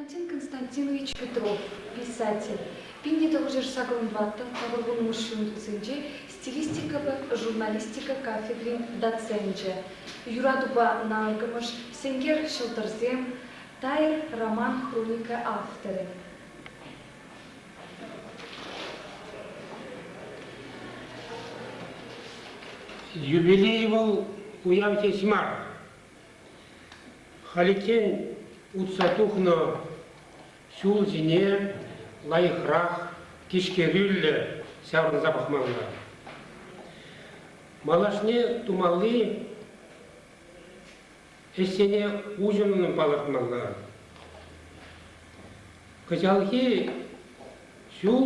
Константин Константинович Петров, писатель, пин тӑвӑрҫӑш сакӑрӑн ваттӑн тӑхӑр вунмӑш ҫӳлтӗсенче стилистикӑпа журналистика кафедрин доценчӗ, юратупа наркӑмӑш, сенкер ҫӑлтӑрсем, Тайӑр роман-хроника авторӗ. Юбилей вӑл уяв теҫ мар. Халиччен утса тухнӑ ҫул ҫине лайӑхрах, тишкерӳллӗ ҫаврӑнса пӑхмалла. Малашне тумалли ӗҫсене уҫӑмлӑн палӑртмалла. Кӑҫалхи ҫул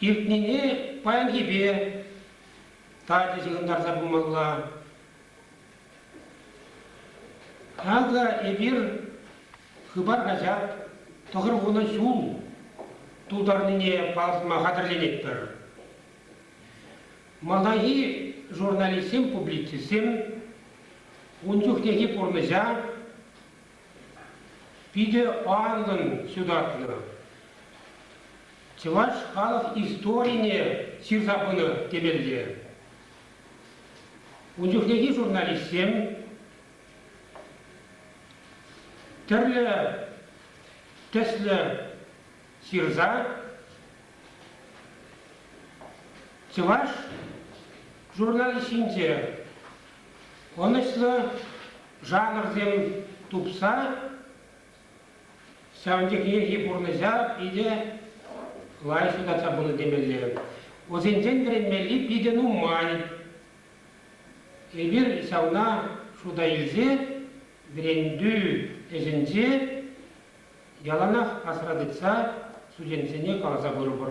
Иртнине паянхипе тачӑ ҫыхӑнтарса пымалла. Акӑ эпир Хыпар хаҫат тӑхӑр вунӑ ҫул тултарнине палӑртма хатӗрленетпӗр. Малтанхи журналистсем публицистсем ун чухнехи пурнӑҫа Питӗ анлӑн ҫутатнӑ. Чӑваш халӑх историне ҫырса пынӑ темелле. Ун чухнехи журналистсем тӗрлӗ тӗслӗ ҫырса чӑваш журналист ҫинче Ӑнӑҫсӑр жанрсем тупса ҫавӑн чухнехи пурнӑҫа питӗ лайӑх ҫутатса пынӑ темелле. Вӗсенчен вӗренмелли питӗ нумай. Эпир ҫавна шута илсе вӗрентӳ ӗҫӗнче яланах асра тытса студентсене каласа пырӑпӑр.